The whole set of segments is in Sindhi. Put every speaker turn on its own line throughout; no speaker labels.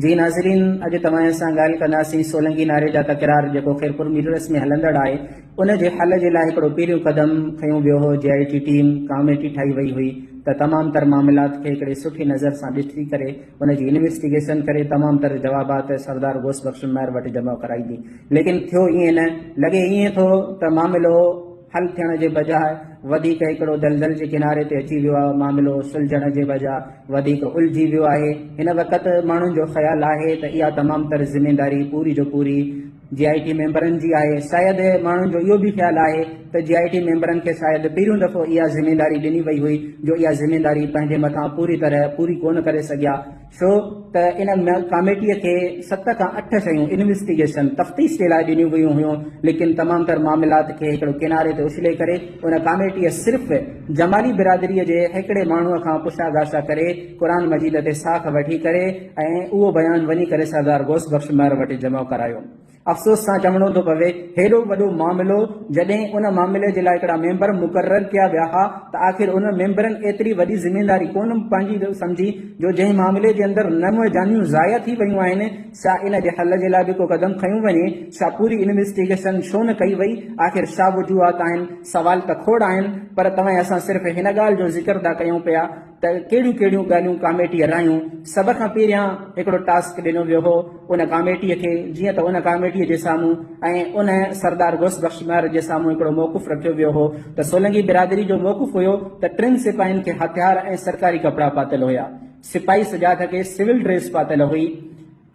جي ناظرين اڄ توهان سان ڳالهه ڪنداسين سولنگي نعري جا تڪرار جيڪو خيرپور ميررس ۾ هلندڙ آهي ان جي حل جي لاء هڪڙو پهريون قدم کنيو ويو هو جي آء ٽي ٽيم ڪاميٽي ٺاهي وئي هئي ته تمام تر معاملات کي هڪڙي سٺي نظر سان ڏسي ڪري ان جي انويسٽيگيشن ڪري تمام تر جوابات سردار غوث بخش مير وٽ جمع ڪرائيندي ليڪن ٿيو ائين نه لڳي ائين ٿو ته معاملو حل ٿيڻ جي بجاء وڌيڪ هڪڙو دلدل جي ڪناري تي اچي ويو آهي، معاملو سلجهڻ جي بجاء وڌيڪ الجهي ويو آهي، هن وقت ماڻهن جو خيال آهي ته اها تمام تر ذميواري پوري جو پوري جي آء ٽي ميمبرن جي آهي، شايد ماڻهن جو اهو به خيال آهي ته جي آء ٽي ميمبرن کي شايد پهريون دفعو اها ذميواري ڏني وئي هئي جو اها ذميواري پنهنجي مٿان پوري طرح پوري ڪونه ڪري سگهيا، ڇو ته ان ڪاميٽيء کي ست کان اٺ شيون انويسٽيگيشن، تفتيش، جي لاء ڏنيون ويون هيون، ليڪن تمام تر معاملات کي هڪڙو ڪناري تي اڇلي ڪري ان ڪاميٽيء صرف جمالي برادريء جي هڪڙي ماڻهوء کان پڇا ڳاڇا ڪري قرآن مجيد تي ساک وٺي ڪري ۽ اهو بيان وڃي ڪري سردار غوث بخش مهر وٽ جمع ڪرايو. افسوس سان چوڻو ٿو پوي هيڏو وڏو معاملو جڏهن ان معاملي جي لاء هڪڙا ميمبر مقرر ڪيا ويا ها ته آخر انهن ميمبرن ايتري وڏي ذميواري ڪونه پنهنجي سمجهي جو جنهن معاملي جي اندر نو جانيون ضايع ٿي ويون آهن سا ان جي حل جي لاء به ڪو قدم کنيو وڃي سا پوري انويسٽيگيشن ڇو نه ڪئي وئي آخر ڇا وجوهات آهن سوال ته کوڙ آهن پر توهين اسان صرف هن ڳالهه جو ذڪر ٿا ڪيون پيا ته ڪهڙيون ڪهڙيون ڳالهيون ڪاميٽي هلايون، سڀ کان پهريان هڪڙو ٽاسڪ ڏنو ويو هو ان ڪاميٽي کي جيئن ته ان ڪاميٽي جي سامهون ۽ ان سردار غوث بخش ميار جي سامهون هڪڙو موقف رکيو ويو هو ته سولنگي برادري جو موقف هيو ته ٽن سپاهين کي هٿيار ۽ سرڪاري ڪپڙا پاتل هيا سپاهي سجاده کي سول ڊريس پاتل هئي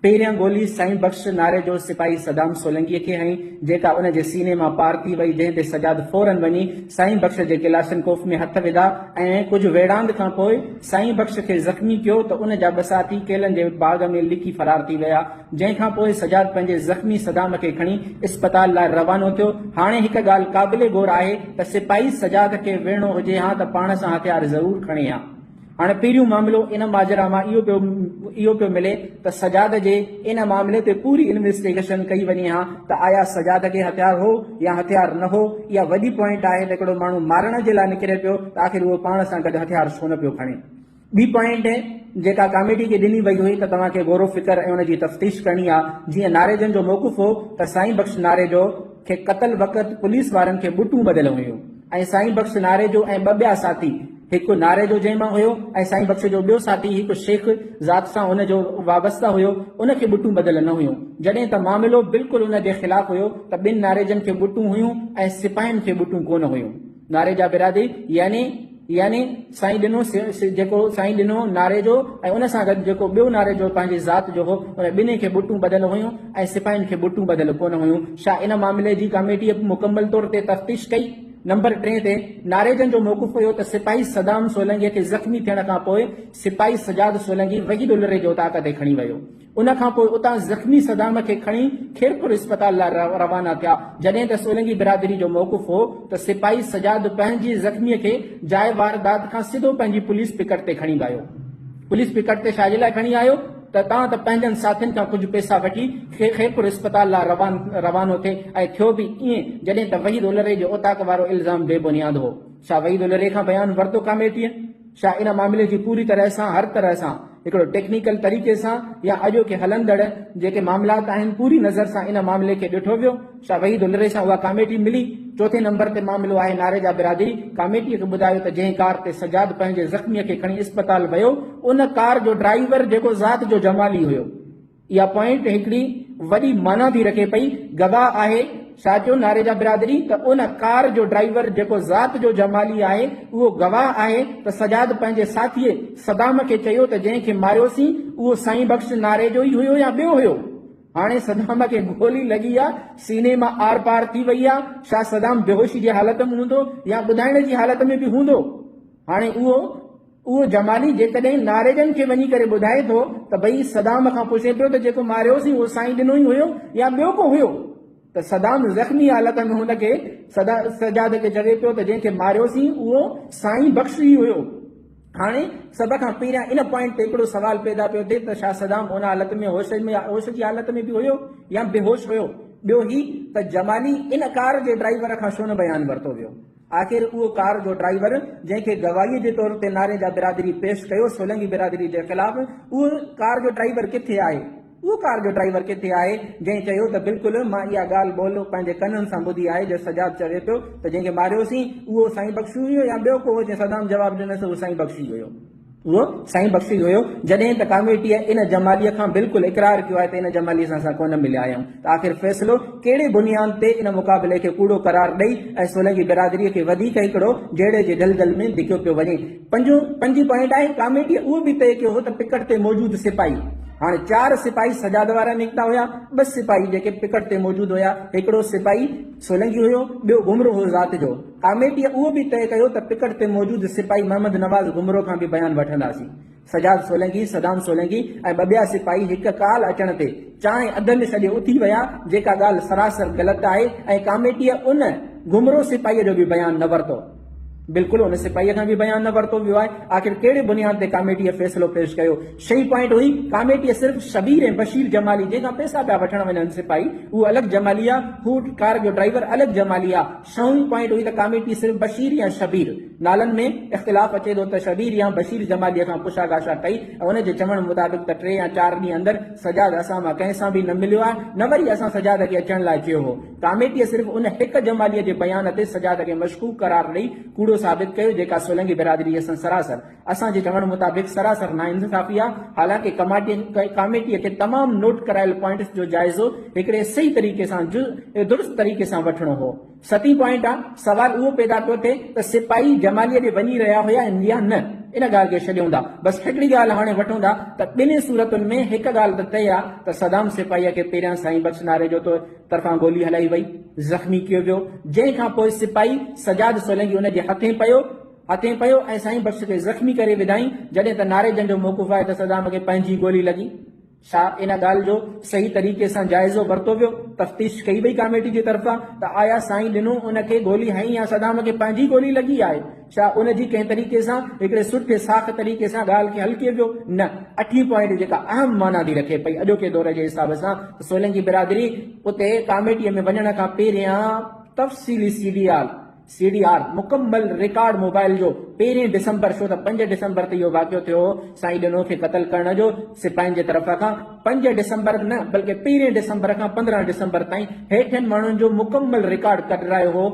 پهريان گولي سائين بخش ناري جو سپاهي صدام سولنگيء کي هنئي، جيڪا ان جي سيني مان پار ٿي وئي، جنهن تي سجاد فوراً وڃي سائين بخش جي ڪلاشن ڪوف ۾ هٿ وڌا ۽ ڪجهه ويڙهاند کان پوء سائين بخش کي زخمي ڪيو ته ان جا ٻه ساٿي ڪيلن جي باغ ۾ لڪي فرار ٿي ويا، جنهن کان پوء سجاد پنهنجي زخمي صدام کي کڻي اسپتال لاء روانو ٿيو، هاڻي هڪ ڳالهه قابل غور آهي ته سپاهي سجاد کي ويڙهڻو هجي ها ته پاڻ سان هٿيار ضرور کڻي ها. هاڻ پهريون معاملو ان ماجرا مان اهو پيو اهو پيو ملي ته سجاد جي ان معاملي تي پوري انويسٽيگيشن ڪئي وڃي ها ته آيا سجاد کي هٿيار هو يا هٿيار نه هو اها وڏي پوائنٽ آهي ته هڪڙو ماڻهو مارڻ جي لاء نڪري پيو ته آخر اهو پاڻ سان گڏ هٿيار ڇو نه پيو کڻي ٻي پوائنٽ جيڪا ڪاميٽي کي ڏني وئي هئي ته توهان کي غور و فڪر ۽ ان جي تفتيش ڪرڻي آهي جيئن ناريجن جو موقف هو ته سائين بخش ناريجو کي قتل وقت پوليس وارن کي ٻٽون ٻڌل هيون ۽ سائين بخش ناريجو ۽ ٻه ٻيا ساٿي هڪ ناريجو جنهن مان هيو ۽ سائين بخش جو ٻيو ساٿي هڪ شيخ ذات سان ان جو وابسته هيو ان کي ٻٽون ٻڌل نه هيون جڏهن ته معاملو بلڪل ان جي خلاف هيو ته ٻن ناريجن کي ٻٽون هيون ۽ سپاهين کي ٻٽون ڪونه هيون. نعري جا برادي يعني يعني سائين ڏنو جيڪو سائين ڏنو نعري جو ۽ ان سان گڏ جيڪو ٻيو نعري جو پنهنجي ذات جو هو ان ٻنهي کي بوٽون ٻڌل هيون ۽ سپاهين کي بوٽون ٻڌل ڪونه هيون شاهه ان معاملي جي ڪاميٽيء به مڪمل طور تي تفتيش ڪئي نمبر ٽئين تي نعري جن جو موقف هيو ته سپاهي صدام سولنگي کي زخمي ٿيڻ کان پوء سپاهي سجاد سولنگي وحيد الري جي اتاق تي کڻي ويو ان کان پوء اتان زخمي صدام کي کڻي خيرپور اسپتال لاء روانا ٿيا، جڏهن ته سولنگي برادري جو موقف هو ته سپاهي سجاد پنهنجي زخمي کي جاء واردات کان سڌو پنهنجي پوليس پڪٽ تي کڻي ويو. پوليس پڪٽ تي شاجي لاء کڻي آيو ته تان ته پنهنجن ساٿين کان ڪجهه پئسا وٺي خيرپور اسپتال لاء روانو ٿي ۽ ٿيو به ائين جڏهن ته وحيد الهري جو اوطاق وارو الزام بي بنياد هو. ڇا وحيد الهري کان بيان ورتو ڪاميٽيء؟ ڇا ان معاملي جي پوري طرح سان هر طرح سان هڪڙو ٽيڪنيڪل طريقي سان يا اڄوڪي هلندڙ جيڪي معاملات آهن پوري نظر سان ان معاملي کي ڏٺو ويو ڇا وحيد الري سان اها ڪاميٽي ملي چوٿين نمبر تي معاملو آهي ناريجا برادري ڪاميٽي کي ٻڌايو ته جنهن ڪار تي سجاد پنهنجي زخمي کي کڻي اسپتال ويو ان ڪار جو ڊرائيور جيڪو ذات جو جمالي هيو اها پوائنٽ هڪڙي وڏي معنيٰ ٿي رکي پئي، گواهه آهي ساچو ناريجا برادري ته ان ڪار جو ڊرائيور جيڪو ذات جو جمالي آهي اهو گواهه آهي ته سجاد پنهنجي ساٿيء صدام کي چيو ته جنهن کي ماريوسين اهو سائين بخش ناريجو ئي هيو يا ٻيو هيو هاڻي صدام کي گولي لڳي آ سيني مان آر پار ٿي وئي آ شا صدام بيهوشي جي حالت م هوندو يا ٻڌائڻ جي حالت ۾ به هوندو هاڻي اهو اهو جمالي جيڪڏهن ناريجن کي وڃي ڪري ٻڌائي ٿو ته ڀئي صدام کان پڇي پيو ته جيڪو ماريوسين اهو سائين ڏنو ئي هيو يا ٻيو ڪو هيو ته صدام زخمي حالت ۾ هن کي سجاد کي چوي پيو ته جنهن کي ماريوسين اهو سائين بخش ئي هيو. هاڻي سڀ کان پهريان ان پوائنٽ تي هڪڙو سوال پيدا پيو ٿئي ته ڇا صدام ان حالت ۾ هوش ۾ هوش جي حالت ۾ به هيو يا بيهوش هيو؟ ٻيو هي ته جمالي ان ڪار جي ڊرائيور کان ڇو نه بيان ورتو ويو؟ آخر اهو ڪار جو ڊرائيور جنهن کي گواهيء جي طور تي نارين جا برادري پيش ڪيو سولنگي برادري جي خلاف اهو ڪار جو ڊرائيور ڪٿي آهي؟ اهو ڪار جو ڊرائيور ڪٿي آهي جنهن چيو ته بلڪل مان اها ڳالهه ٻولهه پنهنجي ڪنن سان ٻڌي آهي جو سجاد چوي پيو ته جنهن کي ماريوسين اهو سائين بخشي هيو يا ٻيو ڪو هو جنهن صدام جواب ڏنس اهو سائين بخشي هيو. اهو سائين بخشي جو هيو، جڏهن ته ڪاميٽيء ان جماليء کان بلڪل اقرار ڪيو آهي ته ان جماليء سان اسان ڪونه مليا آهيون ته آخر فيصلو ڪهڙي بنياد تي ان مقابلي کي ڪوڙو قرار ڏئي ۽ سولنگي برادريء کي وڌيڪ هڪڙو جهيڙي جي دلدل ۾ ڌڪيو پيو وڃي. پنجون پنجين پوائنٽ آهي، ڪاميٽيء اهو به طئي ڪيو هو ته پڪٽ تي موجود سپاهي، هاڻي چار سپاهي سجاد وارا نڪتا هيا، ٻه سپاهي جيڪي پڪٽ تي موجود هيا، هڪڙو سپاهي سولنگي هيو، ٻيو گهمرو هو ذات جو. ڪاميٽيء اهو به طئي ڪيو ته پڪٽ تي موجود سپاهي محمد نواز گمرو کان به بيان وٺنداسين. سجاد سولنگي، صدام سولنگي ۽ ٻه ٻيا سپاهي هڪ ڪال اچڻ تي چانهه اڌ ۾ ڇڏي اٿي ويا، جيڪا ڳالهه سراسر غلط آهي ۽ ڪاميٽيء ان گمرو سپاهيء جو به بيان نه ورتو. بلڪل ان سپاهيء کان به بيان نه ورتو ويو آهي. آخر ڪهڙي بنياد تي ڪاميٽيء فيصلو پيش ڪيو؟ شيء پوائنٽ هئي، ڪاميٽيء صرف شبير ۽ بشير جمالي، جنهن کان پئسا پيا وٺڻ وڃن سپاهي، اهو الڳ جمالي آهي، هو ڪار جو ڊرائيور الڳ جمالي آهي، ڇهون پوائنٽ هئي ته ڪاميٽي صرف بشير يا شبير نالن ۾ اختلاف اچي ٿو ته شبير يا بشير جمالي کان پڇا ڳاڇا ڪئي ۽ ان جي چوڻ مطابق ته ٽي يا چار ڏينهن اندر سجاد اسان مان ڪنهن سان به نه مليو آهي نه وري اسان سجاد کي اچڻ لاء چيو هو ڪاميٽي صرف ان هڪ جمالي جي بيان تي سجاد کي مشڪوڪ قرار ڏئي ڪوڙو ثابت ڪيو جيڪا سولنگي برادري سان سراسر اسان جي چوڻ مطابق سراسر ناانصافي آ، حالانڪ ڪاميٽي کي تمام نوٽ ڪرايل پوائنٽس جو جائزو هڪڙي صحيح طريقي سان جز ۽ درست طريقي سان وٺڻو هو. ستين پوائنٽ آ، سوال اهو پيدا پيو ٿئي ته سپاهي جماليء ڏي وڃي رهيا هيا يا نه؟ ان ڳالهه کي ڇڏيون ٿا، بس هڪڙي ڳالهه هاڻي وٺون ٿا ته ٻنهي صورتن ۾ هڪ ڳالهه ته طئي آ ته صدام سپاهيء کي پهريان سائين بخش ناريجو طرفان گولي هلائي وئي، زخمي ڪيو ويو، جنهن کان پوء سپاهي سجاد سولنگي ان جي هٿين پيو، اڳتي پيو ۽ سائين بخش کي زخمي ڪري وڌائين، جڏهن ته ناري جنگ جو موقف آهي ته صدام کي پنهنجي گولي لڳي. ڇا ان ڳالهه جو صحيح طريقي سان جائزو ورتو ويو؟ تفتيش ڪئي وئي ڪاميٽي جي طرفان ته آيا سائين ڏنو ان کي گولي هنئي يا صدام کي پنهنجي گولي لڳي آهي؟ ڇا ان جي ڪنهن طريقي سان هڪڙي سٺي ساخ طريقي سان ڳالهه کي حل ڪيو ويو؟ نه. اٺين پوائنٽ جيڪا اهم معنيٰ ٿي رکي پئي اڄوڪي دور جي حساب سان ته سولنگي برادري اتي ڪاميٽي ۾ وڃڻ کان پهريان تفصيلي C D R, C D R مڪمل رڪارڊ موبائل جو پهرين ڊسمبر ڇو ته پنج ڊسمبر تي اهو واقعو ٿيو هو سائين ڏنو کي قتل ڪرڻ جو سپاهين جي طرف کان پنج ڊسمبر نه بلڪه پهرين ڊسمبر کان پندرهن ڊسمبر تائين هيٺين ماڻهن جو مڪمل رڪارڊ ڪڍرايو هو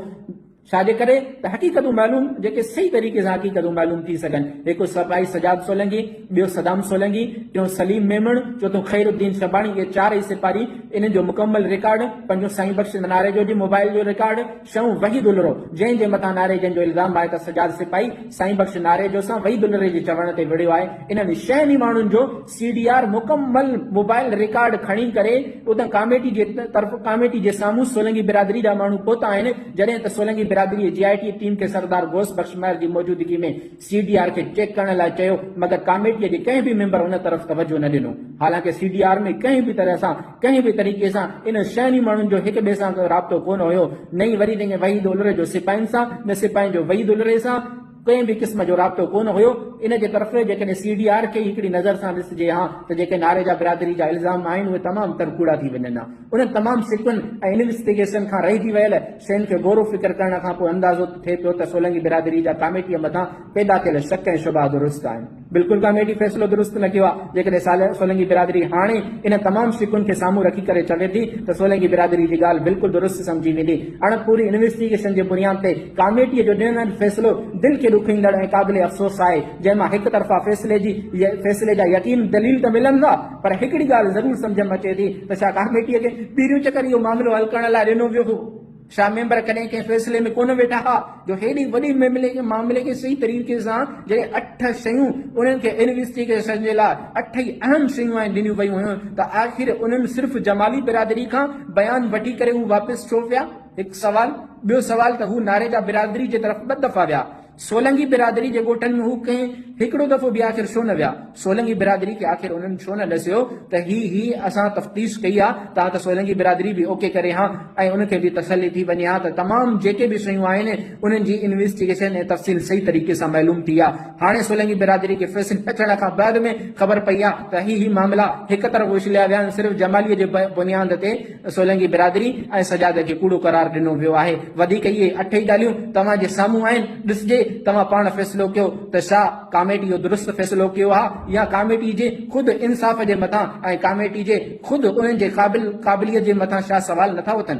ڇا جي ڪري ته حقيقتون معلوم جيڪي صحيح طريقي سان حقيقتون معلوم ٿي سگهن هڪ سپاهي سجاد سولنگي ٻيو صدام سولنگي ٽيون سليم ميمڻ چوٿون خير الدين شباڻي اهي چارئي سپاهي انهن جو مڪمل رڪارڊ پنجون سائين بخش ناريجو جي موبائل جو رڪارڊ سنئون وحيد الرو جنهن جي مٿان ناريجن جو الزام آهي ته سجاد سپاهي سائين بخش ناريجو سان وحيد الري جي چوڻ تي وڙهيو آهي انهن شين ئي ماڻهن جو سي ڊي آر مڪمل موبائل ريڪارڊ کڻي ڪري اتان ڪاميٽي جي طرف ڪاميٽي جي سامهون سولنگي برادري جا ماڻهو پهتا آهن جڏهن ته سولنگي برادري جي آئي ٽي ٽيم کي سردار غوث بخش مهر جي موجودگي ۾ سي ڊي آر کي چيڪ ڪرڻ لاء چيو مگر ڪاميٽي جي ڪنهن به ميمبر ان طرف توجهه نه ڏنو حالانڪه سي ڊي آر ۾ ڪنهن به طرح سان ڪنهن به طريقي سان ان شهري ماڻهن جو هڪ ٻئي سان ڪو رابطو ڪونه هيو، نه ئي وري تنهن وحيد الري جو سپاهين سان، نه سپاهين جو وحيد الري سان ڪنهن به قسم جو رابطو ڪونه هيو. ان جي طرف جيڪڏهن سي ڊي آر کي ئي هڪڙي نظر سان ڏسجي ها ته جيڪي ناريجا برادري جا الزام آهن اهي تمام تر ڪوڙا ٿي وڃن ها. انهن تمام سڪن ۽ انويسٽيگيشن کان رهجي ويل شين کي غور و فڪر ڪرڻ کان پوء اندازو ته ٿئي پيو ته سولنگي برادري جا ڪاميٽيء مٿان پيدا ٿيل شڪ ۽ شبها درست آهن. بلڪل ڪاميٽي فيصلو درست نه ڪيو آهي، جيڪڏهن صالح سولنگي برادري هاڻي انهن تمام شقن کي سامهون رکي ڪري چوي ٿي ته سولنگي برادري جي ڳالهه بلڪل درست سمجهي ويندي. اڻ پوري انويسٽيگيشن جي بنياد تي ڪاميٽي جو ڏنل فيصلو دل کي ڏکوئيندڙ ۽ قابل افسوس آهي، جنهن مان هڪ طرفا فيصلي جي فيصلي جا يقين دليل ته ملن ٿا پر هڪڙي ڳالهه ضرور سمجهه م اچي ٿي ته ڇا ڪاميٽي کي پهريون چڪر اهو معاملو حل ڪرڻ لاء ڏنو ويو هو؟ شاهه ميمبر ڪڏهن ڪنهن فيصلي ۾ ڪونه ويٺا ها جو هيڏي وڏي معاملي کي صحيح طريقي سان جڏهن اٺ شيون انهن کي انويسٽيگيشن جي لاء اٺ ئي اهم شيون آهن ڏنيون ويون هيون ته آخر انهن صرف جمالي برادري کان بيان وٺي ڪري هو واپس ڇو ويا؟ هڪ سوال ٻيو سوال ته هو ناريگا برادري جي طرف ٻه دفعا ويا سولنگي برادري جي ڳوٺن ۾ هو ڪنهن هڪڙو دفعو به آخر ڇو نه ويا؟ سولنگي برادري کي آخر انهن ڇو نه ڏسيو ته هي هي اسان تفتيش ڪئي ها ته ها ته سولنگي برادري به اوڪي ڪري ها ۽ ان کي به تسلي ٿي وڃي ها ته تمام جيڪي به شيون آهن انهن جي انويسٽيگيشن ۽ تفصيل صحيح طريقي سان معلوم ٿي ها هاڻي سولنگي برادري کي فيصلي اچڻ کان بعد ۾ خبر پئي ها ته هي هي معاملا هڪ طرف اڇليا ويا آهن صرف جمالي جي بنياد تي سولنگي برادري ۽ سجاد کي ڪوڙو قرار ڏنو ويو آهي، وڌيڪ اهي اٺ ئي ڳالهيون توهان جي سامهون آهن، ڏسجي توهان پاڻ فيصلو ڪيو ته ڇا ڪاميٽي اهو درست فيصلو ڪيو ها يا ڪاميٽي جي خود انصاف جي مٿان ۽ ڪاميٽي جي خود انهن جي قابل قابليت جي مٿان ڇا سوال نٿا اٿن.